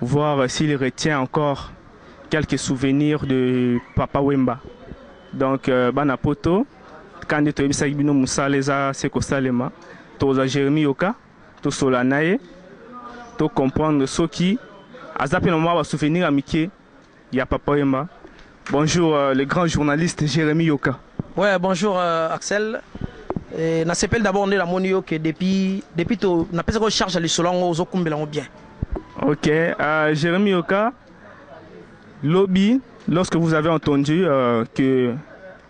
voir s'il retient encore quelques souvenirs de papa Wemba donc bana poto ka nde toyebisaki bino musala eza se kosalema tokozwa Jeremie Yoka tosolola na ye to comprendre soki aza mpe na mwa ba souvenirs ya mike. Ya papa wemba. Bonjour le grand journaliste Jeremie Yoka. Ouais bonjour Axel eh, na sepeli d'abord nde namoni yo ke depuis depuis to na pesa ko charge ya lisolo yango ozo kumbela ngo bien. Ok uh, Jeremie Yoka lobi lorsque vous avez entendu euh, que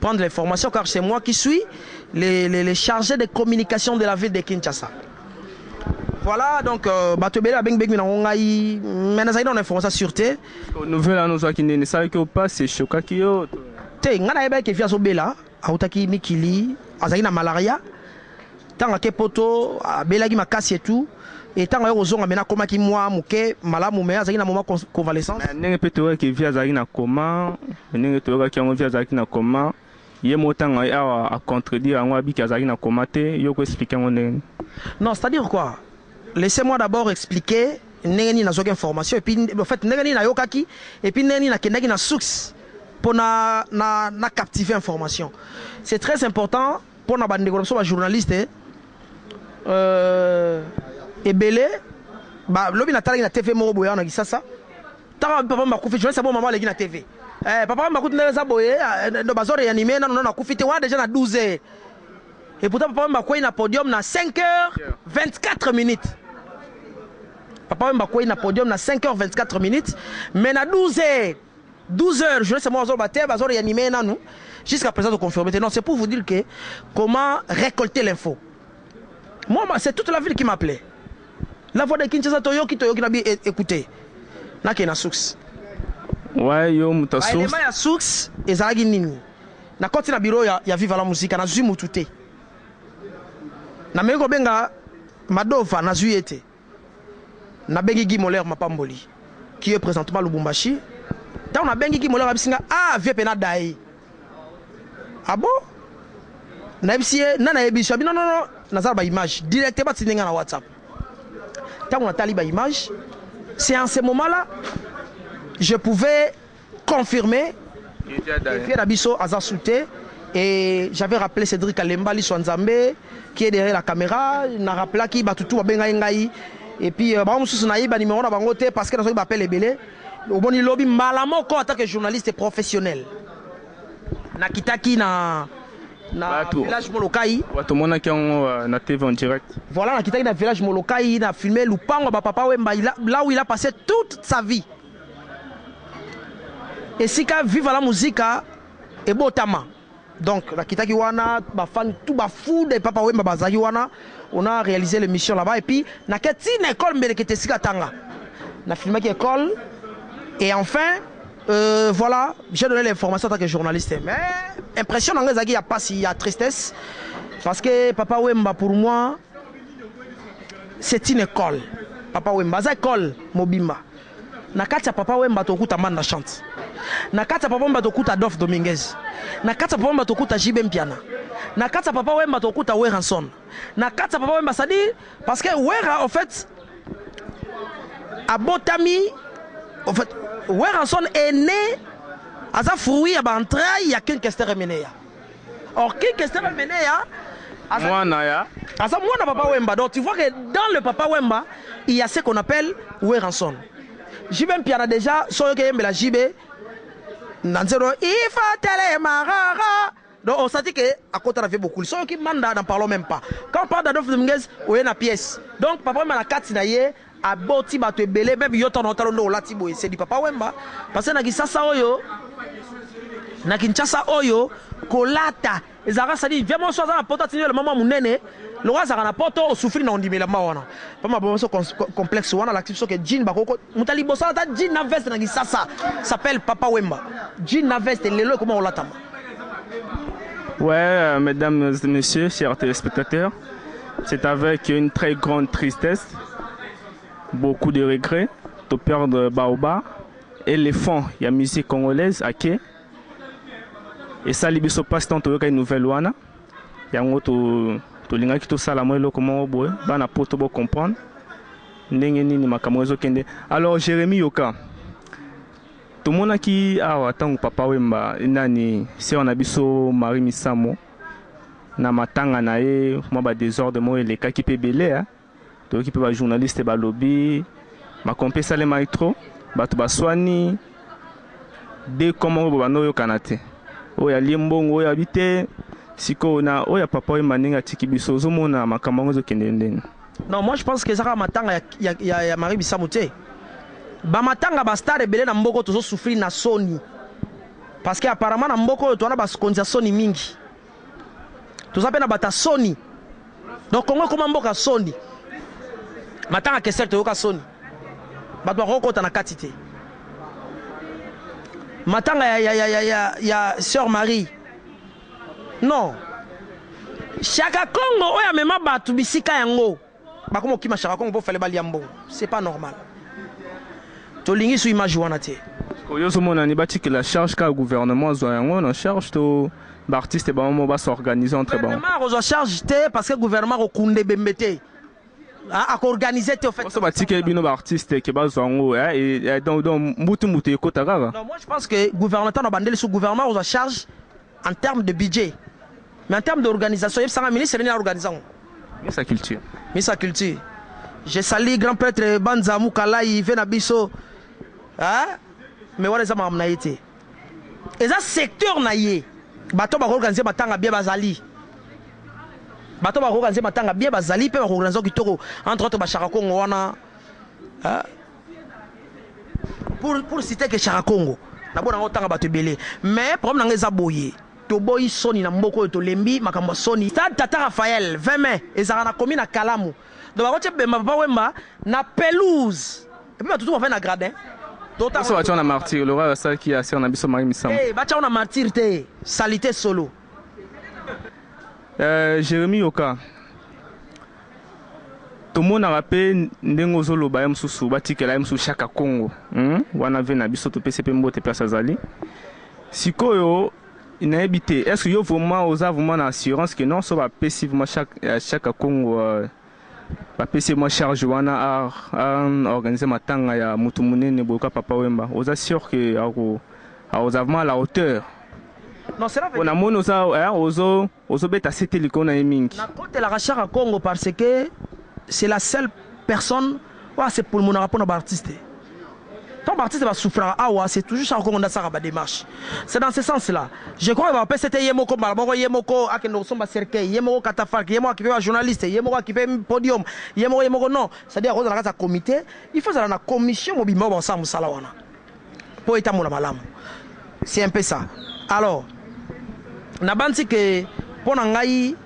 prendre l'information car c'est moi qui suis le, le, le chargé de communication de la ville de Kinshasa. Voilà, donc euh, bato ebele babengi bengi nango ngai mais nazali na information sur te nouvelle wana ozwaki ndeni esalaki yo mpasi eshokaki yo te ngai nayebaki ke vi azobela autaki mikili azalaki na malaria Tango ake poto abelaki makasi et tout et tango aye kozonga maintenant akomaki mua muke malamu mais azalaki na moment con- Mais convalescence. ndenge pe toyokaki ke vie azalaki na coma ndenge toyokaki yango vie azalaki na coma ye moko tango aye awa a contredire yango abi ke azalaki na coma te yo oko explique yango ndenge nini Non, c'est-à-dire quoi? Laissez moi d'abord expliquer ndenge nini nazwaki information et puis en fait ndenge nini nayokaki et puis ndenge nini nakendaki na source pona na na captiver information. C'est très important Pona ba ndeko na biso ba journaliste euh ebele ba lobi na talaki na TV moko boya na kisasa taka papa mba kufi journaliste bo mama leki na TV eh papa mba kutu ndenge za boye ndo bazo reanime na na kufi te wana deja na 12 heures et pourtant papa mba kwei na podium na 5 heures 24 minutes papa mba kwei na podium na 5 heures 24 minutes mais na 12 heures 12 heures journaliste moko azoloba te bazo reanime ye nanu jusqu'à présent to confirme te non c'est pour vous dire que comment récolter l'info moi c'est toute la ville qui m'appelait la voix de Kinshasa toyoki toyoki na bi e, écouter na ke na source ouais yo muta source ba élément ya source ezalaki nini na koti na bureau ya, ya viva la musica na zui mutu te na meko benga madova na zui ete Nabengi Guy Moler Mapamboli qui est presentement à Lubumbashi. Tango nabengi Guy Moler ayebisi nga ah vieux Pena ada ye. Ah bon? Nayebisi ye nani ayebisi yo? Abi non non non naza na ba images directement atindi nga na WhatsApp. Tango natali ba images c'est en ce moment là je pouvais confirme Fier na biso aza sous te et j'avais rappelé Cedric Kalemba liso ya Nzambe qui est derrière la camera na rappelaki batu tout babengaki ngai et puis euh, bango mosusu nayiba numero na bango te parce que nazwaki ba appel ebele omoni lobi mbala moko en tant que journaliste professionnel nakitaki na na Batu. village Molokai Wato mona kiango euh, na TV en direct. Voilà, nakitaki na village Molokai, na filme lupango ya ba papa Wemba, il a- là où il a passé toute sa vie. Esika viva la musica ebotama donc nakitaki wana ba fan tout ba fou de papa wemba bazaki wana on a realiser l'émission là-bas et puis nake ti na école mbelekete esika tanga na filmaki école et enfin euh, voilà j'ai donné l'information en tant que journaliste mais impression nanga ezalaki ya pasi ya tristesse parce que papa wemba pour moi c'est une école papa wemba aza école mobimba Na kati ya Papa Wemba tokokuta Mbanda Chant, na kati ya Papa Wemba tokokuta Adolphe Dominguez, na kati ya Papa Wemba tokokuta JB Mpiana, na kati ya Papa Wemba tokokuta Werrason, na kati ya Papa Wemba c'est à dire parce que Werra au fait abotami au fait Werrason est né aza fruit ya ba entrailles ya Ken Kester Emeneya. Orchid Kester amene ya mwana ya aza mwana papa Wemba. Donc tu vois que dans le papa Wemba, il y a ce qu'on appelle Weranson. JB Mpiana déjà soyo ke yembela JB na nzero ifa tele marara. Donc on sentit que à côté la vie beaucoup. Soyo ki manda n'en parlons même pas. Quand on parle d'Adolphe Dominguez, on est na pièce. Donc papa Wemba na kati na ye Aboti batu ebele meme yo ton otalo nde olati boye c'est du papa wemba parce que na kisasa oyo na kinshasa oyo kolata ezalaka sadi via moso aza na poto atindi elamba mwa munene lokola azalaka na poto osufri na ondima elamba wana mpo maboma biso complexe wana alakisi biso ke jean bakoko moto aliboso alata jean na veste na kisasa s'appelle papa wemba jean na veste lelo ekoma kolatama Ouais, euh, mesdames, messieurs, chers téléspectateurs, C'est avec une très grande tristesse, beaucoup de regrets, de perdre Baoba, éléphant ya musique congolaise ake esali biso passe temps toyoka une nouvelle wana yango to tolingaki tosala mwa eloko moko boye bana poto bo comprendre ndenge nini makambo ezokende alors Jérémie yoka tomonaki awa ntango papa wemba nani sœur na biso Marie Misamo na matanga na ye mwa ba desordre moko elekaki mpe ebele hein. Toyoki mpe ba journaliste balobi makambo mpe esalemaki trop, bato baswani deux camps moko boye bando oyokana te. Oyo alie mbongo oyo abi te. Sikoyo na oyo ya papa Wemba ndenge atiki biso ozomona makambo yango ezokende ndeni? Non moi je pense que eza kaka matanga ya, ya, ya, ya Marie Bisamu te. Ba matanga ba star ebele na mboko tozo souffrir na soni. Parce que apparemment na mboka oyo toana baskonzi ya soni mingi. Toza pe na bata soni. Donc Congo ekoma mboka soni. Matanga Kester toyoka soni. Bato bakoko kota na kati te. Matanga ya ya ya ya ya, ya sœur Marie. Non. Shaka Congo oyo amema bato bisika yango. Bako mokima shaka kongo po fallait balia mbongo c'est pas normal tolingi su image wana te. Sikoyo yo ozo mona ni batikela charge kaka gouvernement azwa yango na charge to ba artistes bango moko ba s'organiser entre bango? Gouvernement akozwa charge te parce que gouvernement akokunda ebembe te ah, ako organiser te au fait. Oso batikeli bino ba artistes ke bazwa yango eh, eh, eh, donc donc mbutu mbutu ekota kaka. Non, moi je pense que gouvernement tano bandeli sous gouvernement akozwa charge En terme de budget. Mais en terme d'organisation, yebisa nga ministre nini a organise yango? Ministre ya culture. Ministre ya culture. Je salue grand prêtre Banza Mukalayi ve na biso. Hein? Mais wana eza makambo na ye te. Eza secteur na ye. Bato ba organiser matanga bien bazali. Bato ba organiser matanga bien bazali pe ba organiser kitoko entre autres ba Shaka Kongo wana. Hein? pour pour citer que Chaka Congo na bona ngo tanga bato ebele mais problème nanga eza boye toboyi soni na mboka oyo tolembi makambo ya soni stade tata Raphaël 20 mai ezalaka na komi na kalamu donc bakotie bemba papa wemba na pelouse epuis bato tuba mpe na gradin toso batia na martyr lora oyo asalaki ya sere na biso mari misambo hey, eh, batia na martyr te salite solo uh, eh, jérémi yoka Tomonaka pe ndenge ozo loba ye mususu ba tikela ye mususu shaka kongo hum wana vie na biso topesi ye pe mbote place azali sikoyo nayebi te est ce que yo vraiment oza vraiment na assurance que non so ba pesi vraiment shaka, euh, shaka kongo euh, ba pesi ye mwa charge wana a, a organiser matanga ya mutu munene boyoka papa wemba oza sûr que ako akoza vraiment à la hauteur Non, cela veut po dire... namoni oza eh, ozo ozo beta sete likolo naye mingi. Na kotelaka shaka kongo par ce que c'est la seule personne oyo a se pulmonaka pona ba artistes tango ba artistes ba souffraka awa c'est toujours shaka kongo nde asalaka ba demarches c'est dans ce sens là je crois que ba papa sete ye moko mbala moko ye moko akende kosomba cercueil ye moko catafalque ye moko akipe ba journalistes ye moko akipe podium ye moko ye moko non c'est à dire akozala na kati ya comite il faut ezala na commission mobimba oyo bakosala musala wana. po etambola malamu c'est un peu ça alors na banzi que po na ngai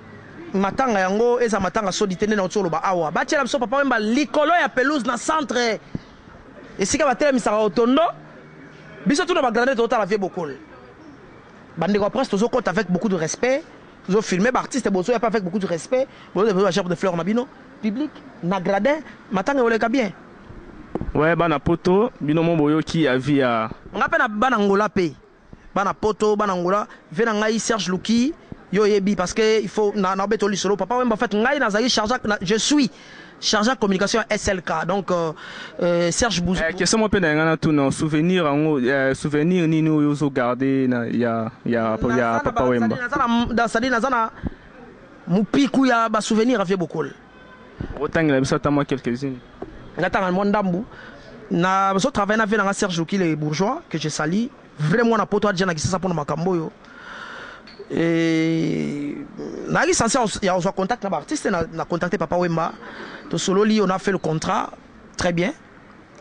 matanga yango eza matanga sodi te nde na uti oloba awa ba tiela biso papa wemba likolo ya pelouse na centre esika ba telemisaka otondo biso tuna ba grande totala vie bokol bandeko ya presse tozo kota avec beaucoup de respect tozo filmer ba artiste bozo ya pas avec beaucoup de respect bozo de fleurs na bino public na gradin matanga oleka bien Ouais bana poto bino mo boyoki avis ya. Nga pe na bana Angola pe. Bana poto bana Angola vie na ngai Serge luki yo oyebi parce que il faut na na beto lisolo papa wemba en fait ngai na zali charge je suis charge ya communication ya SLK donc euh, Serge Bouzou. Eh, question mo pe na nga na tuna souvenir ango eh, souvenir nini oyo zo garder na ya ya ya papa wemba. Na zana na zana mupikouya ba souvenir à vieux bokol. Okotangela biso ata mwa quelques unes. Nga tanga mwa ndambu. Na zo travailler na vieux na nga Serge Lokile bourgeois que je salis. Vrai mwana poto adja na Kisasa mpo na makambo oyo. Et nayaki sense ya kozwa contact na ba artistes na, na contacte Papa Wemba tosololi, on a fait le contrat très bien.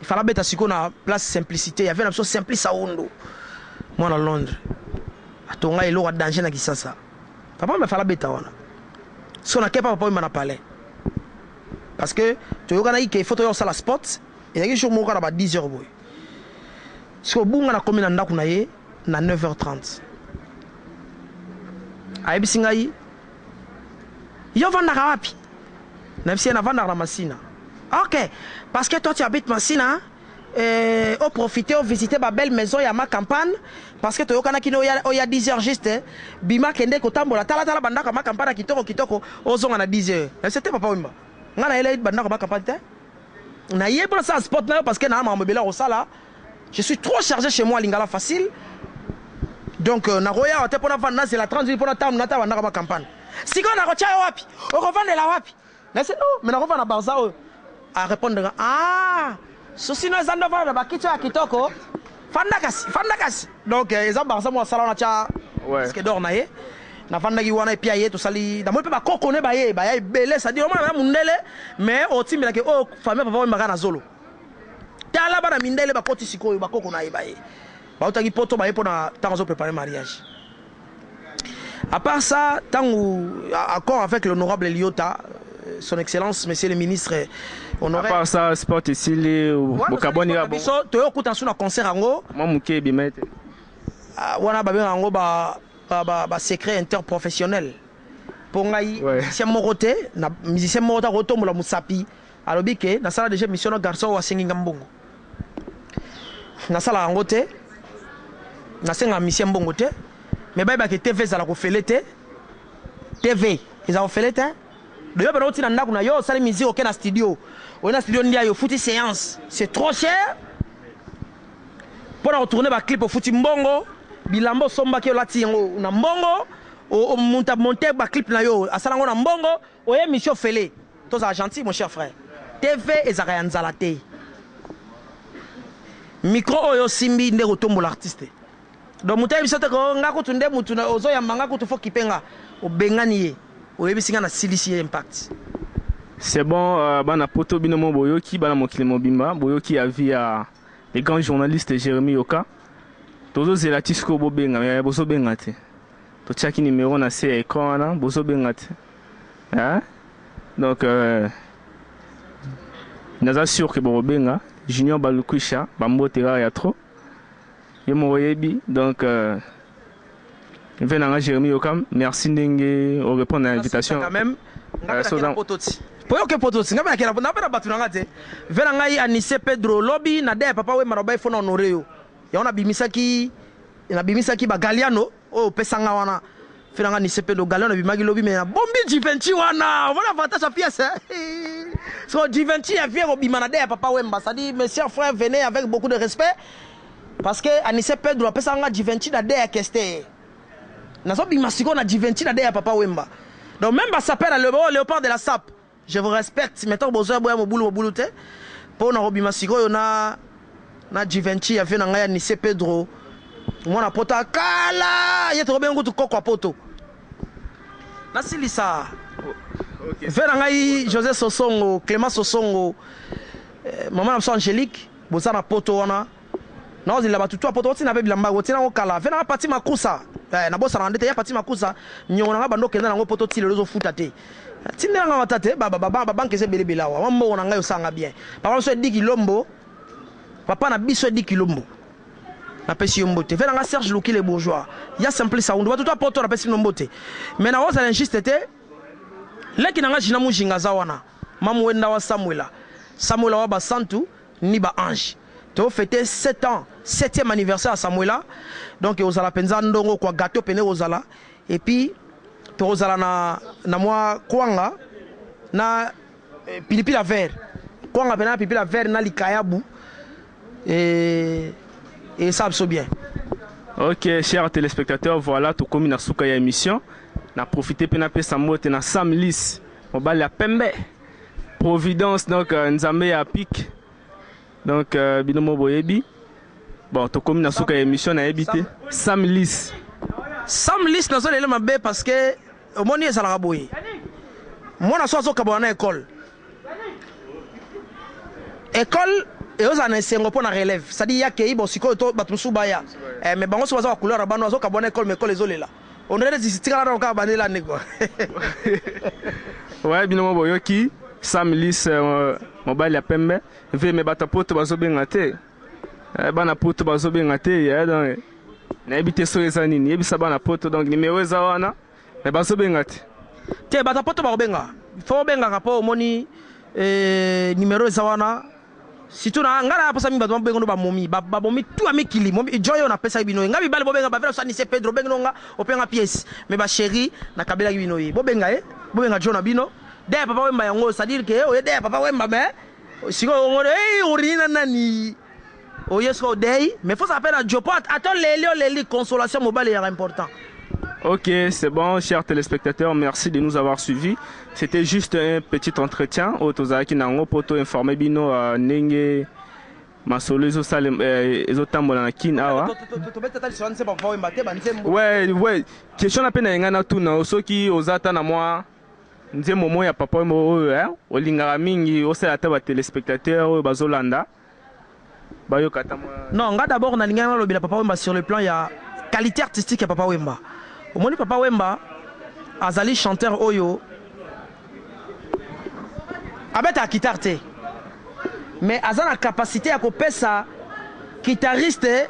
Il fallait beta siko na place simplicité, il y avait na biso Simplice Aondo mwana Londres atonga eloko ya danger na Kisasa. Papa wemba fala beta wana. Son à kepa papa wemba na palais. Parce que toyokanaki ke foto ya osala spot ezalaki jour moko na ba 10 heures boye. Siko bunga na komi na ndako na ye na 9h30. Ayebisi ngai yo vandaka wapi? Na bisi ye na vandaka na Masina. OK, parce que toi tu habites Masina. Hein? Euh, o profiter o visiter ba belle maison ya ma campagne parce que toyokanaki no ya oya 10 heures juste bima kende kotambola tala tala bandako ya ma campagne kitoko kitoko ozonga na 10 heures mais c'était papa wemba nga na yela bandako ya ma campagne te na ye pour ça spot na yo parce que na makambo ebele kosala je suis trop chargé chez moi lingala facile donc euh, nakoya te pona vanda nazela 30 minutes pona tam nata bandako ya ma campagne sikoyo nakotia yo wapi okofandela wapi Nasi oh mais nakofanda na Barça oyo. A repondre nga ah souci no eza nde ofanda na bakiti oyo ya kitoko fanda kasi fanda kasi donc euh, eza Barça mwa sala wana tya ouais. skedor na ye nafandaki wana epi aye tosali namoni mpe bakoko ne baye baya ebele sadi omona na mundele mais otimbelaki oyo oh, famille papa oyembaka na zolo tala bana mindele bakoti sikoyo bakoko na ye baye bautaki poto baye mpo na ntango azoprepare mariage A part ça, tango accord avec l'honorable Liota, euh, son excellence monsieur le ministre honoraire. À part ça, sport esili bokaboni ya biso toyo kuta suna concert yango. Mwa muke bimete. Ah, wana babenga yango ba ba ba, ba secret interprofessionnel. Mpo ngai ouais. musicien moko te na musicien moko te akotombola mosapi alobi ke nasala deja mission na garçon oyo asengi nga mbongo nasala yango te nasenga misie mbongo te me bayebaka ke tv ezala kofele te tv eza kofele te doyo bana oti na ndako na yo osali musique oke na studio oye na studio ndia yo ofuti séance c'est trop cher mpo na kotourne baclip ofuti mbongo bilamba osombaki olati yango na mbongo monte baclip na yo asala yango na mbongo Oyo emission ofele tozala gentil mon cher frère TV ezalaka ya nzala te micro oyo osimbi nde ekotombola artiste donc mutu ayebi biso te ko nga kutu nde mutu ozo yamba nga kutu faut kipe nga obengani ye oyebisi nga na silisi ye impact. C'est bon bana poto bino moko boyoki bana mokili mobimba boyoki avis ya le grand journaliste Jeremie Yoka tozo zela ti sikoyo bobenga mais bozo benga te totiaki numero na se ya ecran wana bozo benga te. hein donc euh, naza sûr que bokobenga Junior Balukwisha ba mbote kaka ya trop yo moko yebi donc euh, mpe nanga Jérémy Yokam merci ndenge o répondre na invitation quand même euh, soza po yoke po tosi ngabe nakela na bana batu nanga te vela ngai anise pedro lobi na de papa wemba na bai fona honore yo yango nabimisaki nabimisaki ba galiano Oyo opesa nga wana fela nga nise pe dogalon na bimaki lobi me na bombi jivenci wana omona avantage ya pièce so jivenci ya vie kobima na de ya papa wemba sadi mes chers frères venez avec beaucoup de respect parce que anise pedro apesa nga jivenci na de ya keste nazobima sikoyo na jivenci na de ya papa wemba donc même basape na leo leopard de la sape Je vous respecte mais tango bozo ya boya mobulu mobulu te po na kobima sikoyo na na Givenchy ya vieux na ngai ya Nice Pedro mwana poto ya kala ye tokobenga kutu koko ya poto nasilisa okay. vieux na ngai José Sosongo Clément Sosongo eh, mama na biso Angélique boza na poto wana Nao zela ba tutu ya poto otina pe bilamba otina yango kala vena pati makusa eh na bosana ndete ya pati makusa nyongo nanga bando kenda nango poto tilo zo futa te tindela nga wata te ba ba ba banque ze bele belawa wa mbo na ngai osanga bien papa biso edi kilombo papa na biso edi kilombo na pesi yombo te vena nga Serge Luki le bourgeois ya simple sa undu batutu apoto na pesi nombo te mais na oza l'injuste te leki nanga jina mujinga za wana mamu wenda wa Samuela Samuela wa basantu ni ba ange To feter sept ans septième anniversaire ya Samuela donc ekozala penza ndongo kua gateau pene ekozala et puis tokozala na na mua kwanga na pilipili ya vert kwanga pena na pilipili ya vert na likayabu et esala biso bien. Ok chers telespectateurs voilà tokomi na suka ya emission na profiter pe na pesa mbote na Sam Lis mobali ya pembe Providence donc euh, nzambe ya pique Donc euh, bino mo boyebi. Bon, tokomi na suka ya émission na yebi te. Sam Lis. Sam Lis na zolele mabe parce que omoni ezalaka boye. Mwana so azokabana na école. École eoza na esengo mpo na relève c'est-à-dire yakei bon sikoyo to bato mosusu baya eh, mais bango so baza ba couleur ya bano azokabwana ekole ma ekole ezolela On dirait neti tikala nano kaka bande lande quoi. Ouais bino mo boyoki Sam Lis euh, mobali ya pembe vie me bata poto bazo benga te eh, bana poto bazo benga te eh, donc nayebi te soki eza nini yebisa bana poto donc nimero eza wana me bazo benga te te bata poto bakobenga fo obengaka mpo omoni eh, nimero eza wana Surtout na nga na posa mi bato babenga no ba momi ba ba bomi tout amikili momi joy oyo na pesaki bino ye nga mibali bobenga ba vela sani se Pedro bengi no nga openga pièce mais ba cherie na kabelaki bino ye bobenga ye bobenga jo na bino dè ya papa wemba yango ça dire que oye dè ya papa wemba mais sikoyo ongo hey orini na nani oye sikoyo odei mais faut ça pe na jo po ata oleli oleli consolation mobali ya important Ok, c'est bon, chers téléspectateurs, merci de nous avoir suivis. C'etait juste un petit entretien oyo tozalaki na yango mpo to informer bino ndenge masolo ezosalem eh, ezotambola na kin awa we we question na mpe na yengai natuna yo soki oza ata na mwa nzembo moko ya papa wemba oyo eh, olingaka mingi osala ata batelespectateur oyo bazolanda bayoka ata mwa. Non nga d'abord na lingaki na lobela papa wemba sur le plan ya qualite artistique ya papa wemba omoni papa wemba azali chanteur oyo abetaka kitare te mais aza na capacite ya ko pesa kitariste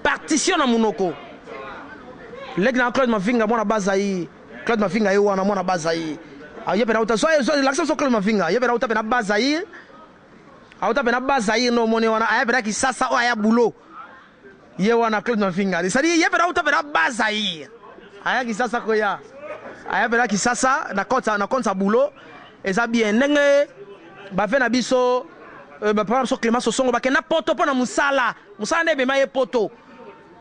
partition na munoko leki na Claude Mavinga mwana baza yi Claude Mavinga ye wana mwana baza yi ah, ye pe na uta so so lakisa so Claude Mavinga ye pe na uta pe na baza yi Auta pena bas Zaire no moni wana aya pena Kisasa oyo aya boulot. Ye wana Claude Mavingari. Ça dit ye pena auta pena bas Zaire. Aya Kisasa ko ya. Aya pena Kisasa na compte na compte sa boulot. Eza bien ndenge ba vena biso euh, ba prendre so Clément Sosongo ba kenda poto pona musala. Musala nde bema ye poto.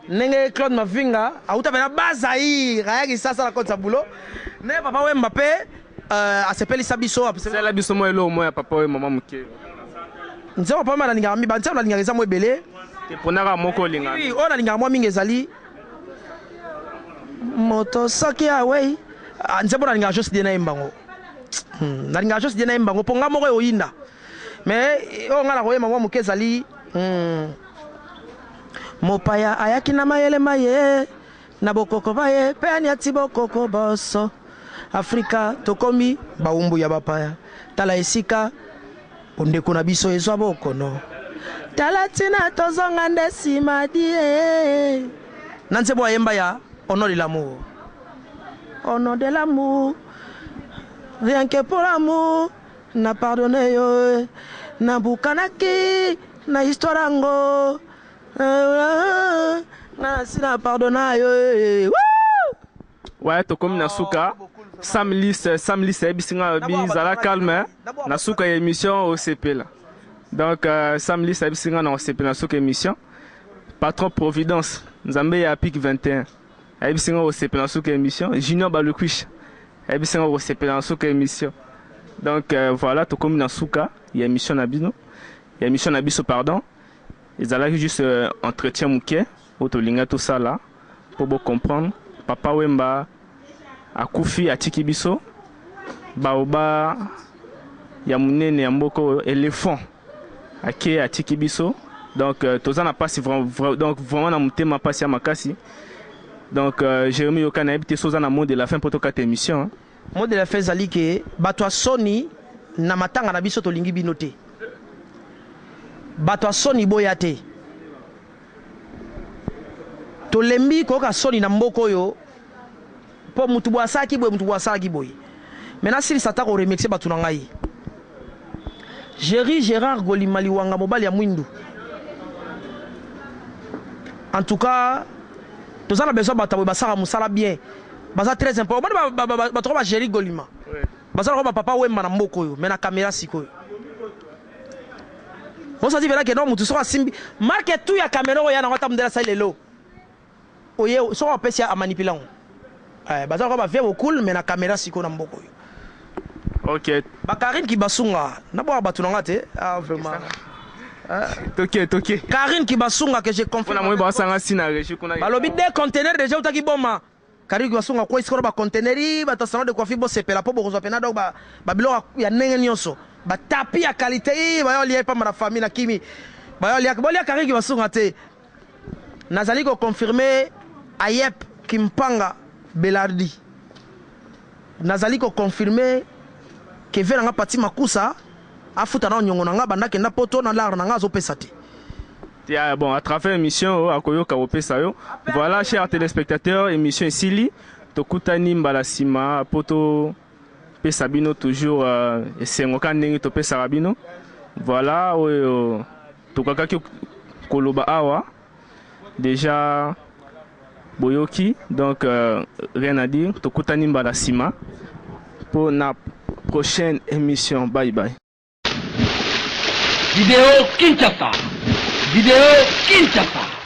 Ndenge Claude Mavinga awuta pe na bas Zaïre aya Kisasa akotisa boulot ndenge papa Wemba pe asepelisa biso asala biso mua eloko mua ya papa Wemba mua muke. Nzembo ya papa Wemba nalingaka mibale nzembo nalingaka eza mua ebele te pona kaka moko olingaka mingi. Oui oyo nalingaka mua mingi ezali moto soki awei nzembo nalingaka Joss Diena ayemba ngo nalingaka Joss Diena ayemba ngo po nga moko eoyinda mais oyo nga nakoyemba mua muke ezali. Mopaya ayaki na mayele ma ye, na bokoko ba ye, mpe anyati bokoko bonso. Afrika, tokomi bawumbu ya bapaya. Tala esika bondeko na biso ezwa bokono. Tala tina tozonga nde sima die. Na nzembo ayemba ya Au nom de l'amour. Au nom de l'amour, rien que pour l'amour. Na pardonner yo eh. Na bukanaki na histoire yango Nga na si na pardonna yo eh. Wouh! Ouais, tokomi na suka. Sam Lis, Sam Lis ayebisi nga bi zala calme na suka ya emission osepela. Donc euh, Sam Lis ayebisi nga na osepela na suka emission. Patron Providence, Nzambe ya Pic 21. Ayebisi nga okosepela na suka emission Junior Balukuisha ayebisi nga okosepela na suka emission donc euh, voilà tokomi na suka ya emission na bino ya emission na biso pardon ezalaki juste euh, entretien moke oyo tolinga tosala mpo bocomprendre papa wemba akufi atiki biso baoba ya monene ya mboka oyo elephant ake atiki biso donc euh, toza na pasi donc vraiment na motema pasi ya makasi donc euh, Jérémy yoka nayebi te soza na mot de la fin mpo tokata émission hein. mot de la fin ezali ke bato ya soni na matanga na biso tolingi bino te bato ya soni boya te tolembi koyoka soni na mboka oyo Po mutu boye asalaki boye mutu boye asalaki boye mais nasilisa ata ko remexer batu na ngai Jerry Gerard Golima Liwanga mobali ya muindu en tout cas toza na besoin batu ya boye basaka musala bien baza tres impo omoni ba, ba, ba, ba, batu ba Jerry Golima baza lokola ba papa Wemba na mboka oyo mais na camera sikoyo osati vela ke no mutu soki asimbi marke tu ya camera oyo ya nango ata mundele asali lelo oye soki opesi ya amanipila ngo eh, baza lokola ba vieux bokul mais na camera siko na mboko oyo ok ba Karine Kibasunga na bwa batu na nga te ah vraiment toke toke Karine Kibasunga que je confirme na moyi ba sanga si na regie kuna balobi deux containers déjà utaki boma Karigo ya songa kwei sikoyo na ba container ii bato ya salon de coiffure bosepela po bokozwa pena donc ba biloko ya ndenge nionso ba tapis ya qualite ii baya olia epamba na famille nakimi baya olia bolia karigo ya songa te nazali ko confirme ayep kimpanga belardi nazali ko confirme keve na nga pati makusa afuta nao niongo na nga banda kenda poto na lar na nga azopesa te. Ya bon à travers emission oyo akoyoka kopesa yo. Voilà chers telespectateurs, emission esili. Tokutani mbala nsima mpo topesa bino toujours euh, esengo kaka ndenge topesaka bino. Voilà oyo tokakaki koloba awa déjà boyoki donc euh, rien à dire tokutani mbala nsima mpo na prochaine émission bye bye Video Kinshasa! Video Kinshasa!